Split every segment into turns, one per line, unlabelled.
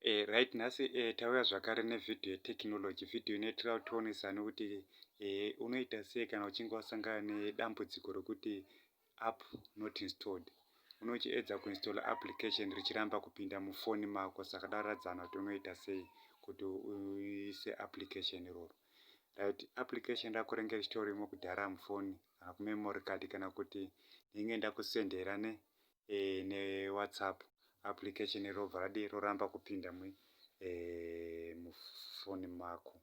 Eh, right nhasi eh, tauya zvakare nevhidhiyo yetechnology vhidhiyo inoitira kutionesani kuti eh, unoita sei kana uchinge wasangana nedambudziko rokuti app not installed unochiedza kuinstall application richiramba kupinda mufoni mako saka daradzana kuti unoita sei kuti uise application iroro right application rako renge richitorimo kudhara mufoni kana kumemory card kana kuti ndinge ndakusendera ne eh, newhatsapp application robva radi roramba kupinda mu eh, mufoni mako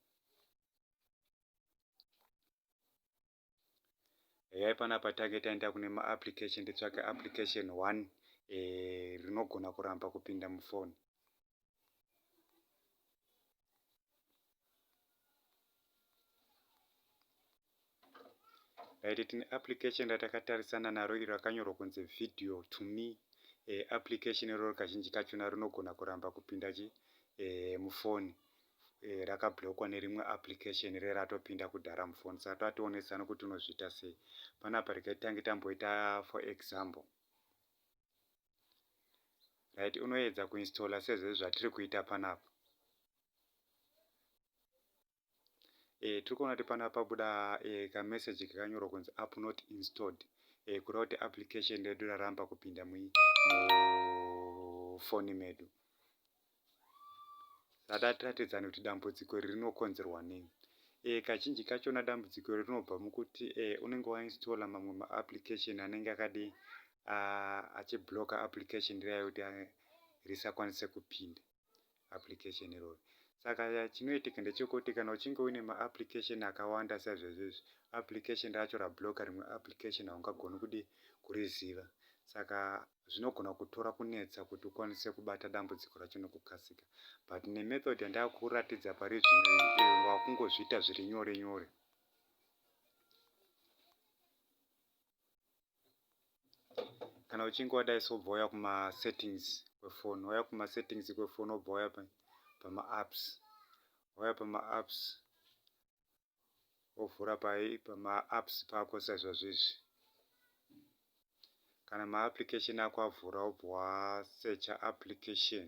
eyai panapa tange taenda kune maapplication titsvake application one eh, rinogona kuramba kupinda mufoni right tine application ratakatarisana naro iro rakanyorwa kunzi video to me e, application iroro kazhinji kachona rinogona kuramba kupinda chi e, eh, mufoni e, eh, rakablokwa nerimwe application re ratopinda kudhara mufoni saka tatoonesa nokuti unozviita sei panapa regai tange tamboita for example right unoedza kuinstalla sezvezvi zvatiri kuita panapa e, tiri kuona kuti panapa pabuda e, eh, kameseji kakanyorwa kunzi app not installed e, kureva kuti application redu raramba kupinda mufoni medu Ratati ratidzana kuti dambudziko iri rinokonzerwa nei. E, kazhinji kachona dambudziko iri rinobva mukuti e, unenge wainstola mamwe maapplication anenge akadi achibloka application riya yekuti risakwanise kupinda application irori. Saka chinoitika ndechekuti kana uchinge uine maapplication akawanda saizvezvezvi, application racho rabloka rimwe application haungagoni kudi kuriziva. Saka zvinogona kutora kunetsa kuti ukwanise kubata dambudziko racho nekukasika but nemethod yandava kukuratidza pari zvino iyi wakungozviita zviri nyore nyore kana uchinge wadai so bva wauya kumasettings kwefoni wauya kumasettings kwefoni wobva wauya pamaapps wauya pamaapps wovhura pamaapps pako saizvozvizvi kana maapplication ako avhura wobva wasecha application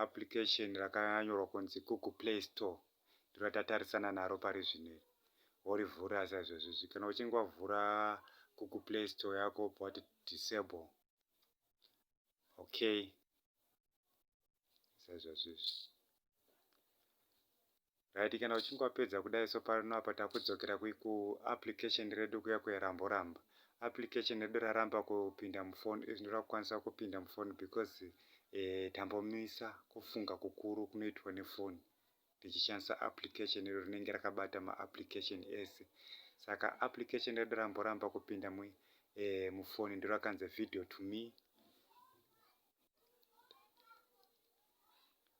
application rakanyorwa kunzi google play store ndiro ratatarisana naro pari zvino worivhura saizvozvizvi kana uchinge wavhura google play store yako wobva wati disable okay sezvazvizvi right kana uchinge wapedza kudai so pano apa takudzokera ku application redu kuya kuyaramboramba application redu raramba kupinda mufoni izvi ndoda kukwanisa kupinda mufoni because eh, tambomisa kufunga kukuru kunoitwa nefoni tichishandisa application iro rinenge rakabata maapplication ese saka application redu ramboramba kupinda mu, eh, mufoni ndorakanzi video to me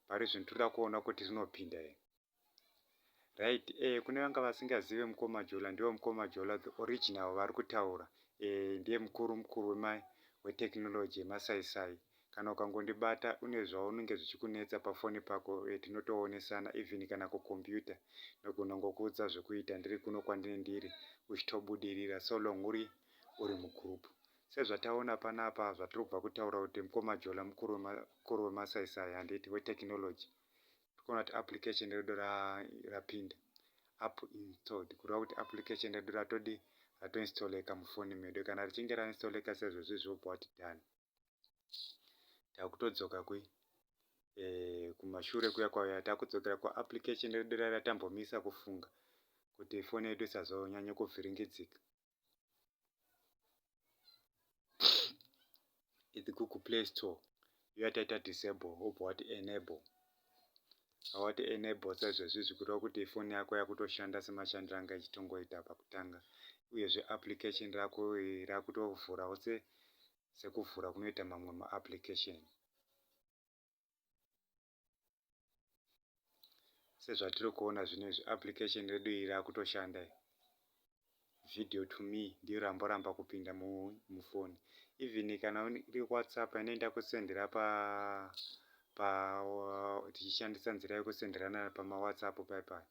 parizvino toda kuona kuti rinopinda here right eh kune vanga vasingazive mukoma jola ndivo mukoma jola the original vari kutaura eh ndiye mukuru mukuru wema wetechnology yemasaisai kana ukangondibata une zvaunenge zvichikunetsa pafoni pako eh, tinotoonesana even kana kukombiyuta ndogona ngokuudza zvekuita ndiri kuno kwandine ndiri uchitobudirira so long uri uri mugroup Sezvataona panapa zvatiri kubva kutaura kuti mkoma Jola mukuru wemasaisai handiti wetechnology tikuona kuti application redu rapinda app installed kureva kuti application redu ratodii ratoinstalleka mufoni medu kana richinge rainstalleka sezvezvizvi wobva wati done takutodzoka kwi eh, kumashure kuya kwauya takudzokera kuapplication redu raiya tambomisa kufunga kuti foni yedu isazonyanye kuvhiringidzika It's Google Play Store. You have to disable, hope what enable. What enable says this is good. What if phone yako yakuto shanda sema shandira nga chitongo ita pa kutanga. Uye zve application rako rakuto vhura ose sekuvhura kunoita mamwe ma application. sezvatiri kuona zvino izvi application redu iri rakutoshanda video to me ndiyo ramboramba kupinda mufoni even kana iri whatsapp inoenda kusendera pa pa tichishandisa nzira yekusenderana pamawhatsapp paipai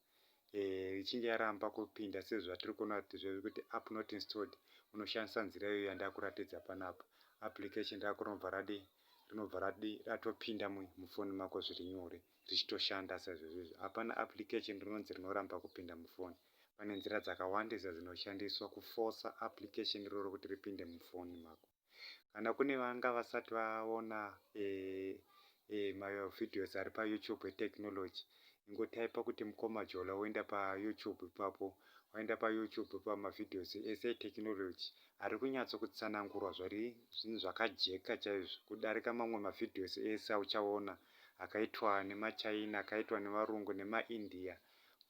eh, ichinge yaramba kupinda sezvatiri kuona kuti app not installed unoshandisa nzira iyo yandakuratidza panapa application rakurobva radi rinobva radi ratopinda mufoni mako zviri nyore richitoshanda saizvozvizvo hapana application rinonzi rinoramba kupinda mufoni pane nzira dzakawandisa dzinoshandiswa kufosa application iroro kuti ripinde mufoni mako Kana kune vanga vasati vaona mavideos ari paYoutube eTechnology, ingotaipa kuti Mukoma Jola woenda paYoutube ipapo. Waenda paYoutube pamavideos ese eTechnology ari kunyatso kutsanangurwa zviri zvinhu zvakajeka chaizvo kudarika mamwe mavideos ese auchaona akaitwa nemaChina, akaitwa nevarungu nemaIndia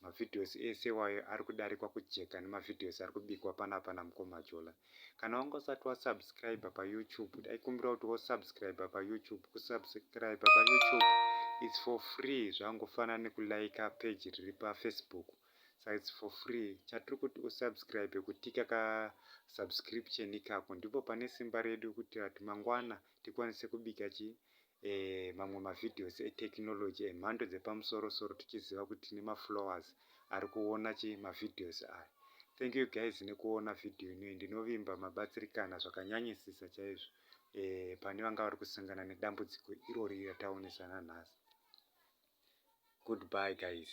Ma videos ese iwayo ari kudarikwa kujeka nema videos ari kubikwa panapa na mkoma Jola. Kana wanga usati wa subscriber pa YouTube ndaikumbira kuti wo subscriber pa YouTube. Ku subscriber pa YouTube it's for free zvangofanana neku liker page riri pa Facebook saka it's for free. Chatiri kuti u subscribe kutika ka subscription ikako ndipo pane simba redu kuitira kuti mangwana tikwanise kubika chi eh, mamwe mavideos etechnology emhando dzepamusoro soro tichiziva kuti tine maflowers ari kuona chi mavideos aya thank you guys nekuona video inoyi ndinovimba mabatsirikana zvakanyanyisisa chaizvo eh, pane vanga vari kusangana nedambudziko irori rataonesana nhasi goodbye guys